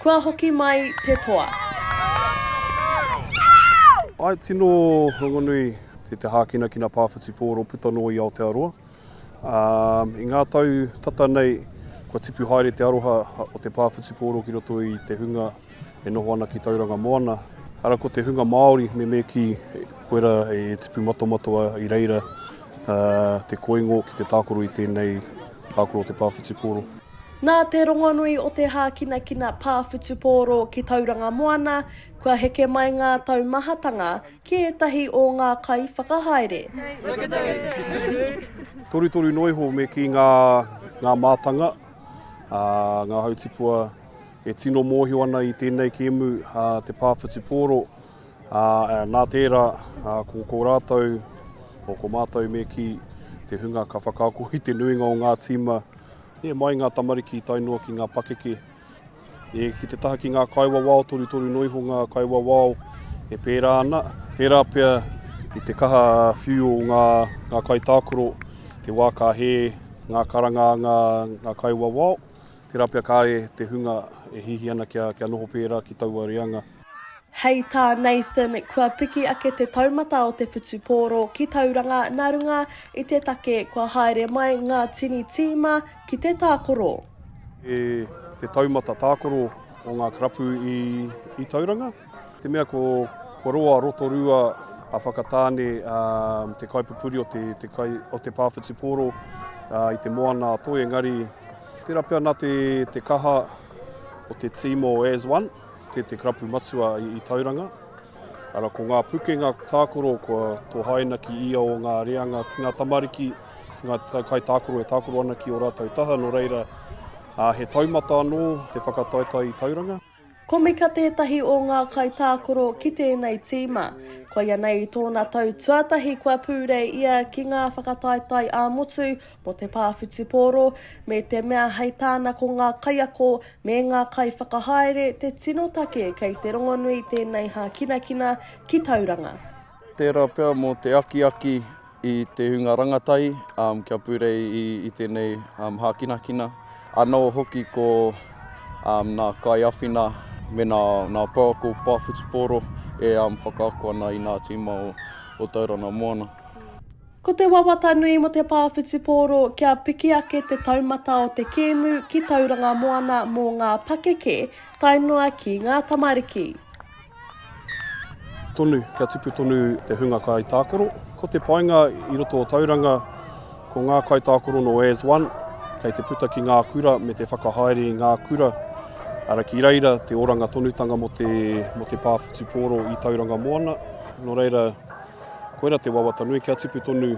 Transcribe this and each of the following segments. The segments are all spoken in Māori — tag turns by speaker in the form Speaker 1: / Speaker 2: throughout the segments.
Speaker 1: Kua hoki mai te toa.
Speaker 2: I tino rongonui te te hākinakina pā whutupōro puta noa i Aotearoa. I ngā tau tata nei kua tipu haere te aroha o te pā whutupōro ki roto i te hunga e noho ana ki Tauranga Moana. Ara ko te hunga Māori me me kī koira e tipu matomatoa i reira te koingo ki te tākaro i tēnei tākaro o te pā whutupōro. Nā te
Speaker 1: rongonui o te hākinakina pā whutupōro ki Tauranga Moana, kua heke mai ngā taumahatanga ki ētahi o ngā kaiwhakahaere.
Speaker 2: Torutoru noa iho me kī ngā mātanga, ngā hautipua e tino mōhio ana i tēnei kēmu te pā whutupōro. Nā tērā, ko rātou, ko mātou me kī te hunga ka whakaako i te nuinga o ngā tīma E mai ngā tamariki tae noa ki ngā pakeke, e ki te taha ki ngā kaiwawao, torutoru noa iho ngā kaiwawao e pērā ana. Tērā pea i te kaha whiu o ngā kaitākaro, te wā ka hē ngā karanga a ngā kaiwawao, tērā pea kāre te hunga e hihi ana kia noho pērā ki taua reanga. Hei tā
Speaker 1: Nathan, kua piki ake te taumata o te whutupōro ki Tauranga nā runga i te take kua haere mai ngā tini tīma ki te tākoro. E
Speaker 2: te taumata tākoro o ngā karapu i Tauranga, te mea ko Roa Rotorua a Whakatāne te kaipupuri o te pā whutupōro i te moana a Toi engari, tērā pea nā te kaha o te tīma o As One. Te te karapu matua i Tauranga. Ara ko ngā pukenga tākoro kua tō haina ki ia o ngā reanga ki ngā tamariki, ki ngā kai tākoro e tākoro ana ki o rātou taha, no reira a, he taumata anō te whakataetae i Tauranga. Komika
Speaker 1: tētahi o ngā kai tākoro ki tēnei tīma. Koianei i tōna tau tuatahi kua pūrei ia ki ngā whakataetae ā-motu mō te pā whutupōro, me te mea hei tāna ko ngā kaiako me ngā kaiwhakahaere te tino take kei te rongonui tēnei hākinakina ki Tauranga. Tērā pea
Speaker 3: mō te akiaki i te hunga rangatahi kia purei i tēnei hākinakina, anō hoki ko ngā kaiawhina me ngā pouako pā whutupōro e whakaako ana i ngā tīma o Tauranga Moana. Ko te
Speaker 1: wawata nui mo te pā whutupōro kia piki ake te taumata o te kēmu ki Tauranga Moana mō ngā pakeke tae noa ki ngā tamariki.
Speaker 2: Tonu, kia tipu tonu te hunga kai tākoro. Ko te painga i roto o Tauranga, ko ngā kai tākoro no as one, kei te puta ki ngā kura me te whakahaere i ngā kura, ara ki reira te oranga tonutanga mo te, mo te pā whutupōro i Tauranga Moana. No reira, Koira te wawata nui kia tipu tonu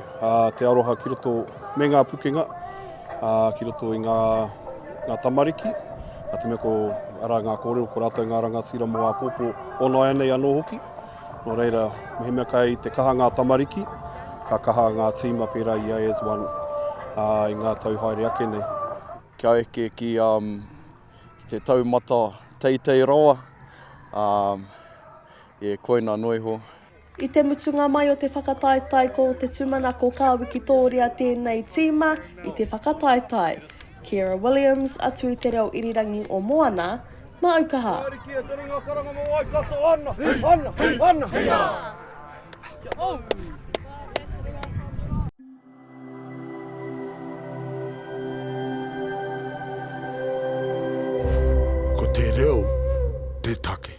Speaker 2: te aroha ki roto me ngā pukenga, ki roto i ngā, ngā tamariki, a te mea ko ara ngā kōrero, ko rātou ngā rangatira mō āpōpō o nāianei anō hoki. Nō reira, mehemea kai te kaha ngā tamariki, ka kaha ngā tīma pērā i a As One uh, i ngā tau haere ake nei. Kia eke
Speaker 3: ki, um, ki te taumata teitei rawa, um, e koina noiho. I te mutunga
Speaker 1: mai o te whakataetae ko te tūmanako ka wikitōria tēnei tīma i te whakataetae. Kiera Williams, a Tui Te Reo Irirangi o Moana, Mā aukaha! Kia oti ki a Tony ngā karanga mō Waikato ana, ana, ana, hei ā! Kia ora!
Speaker 4: Ko te reo te take.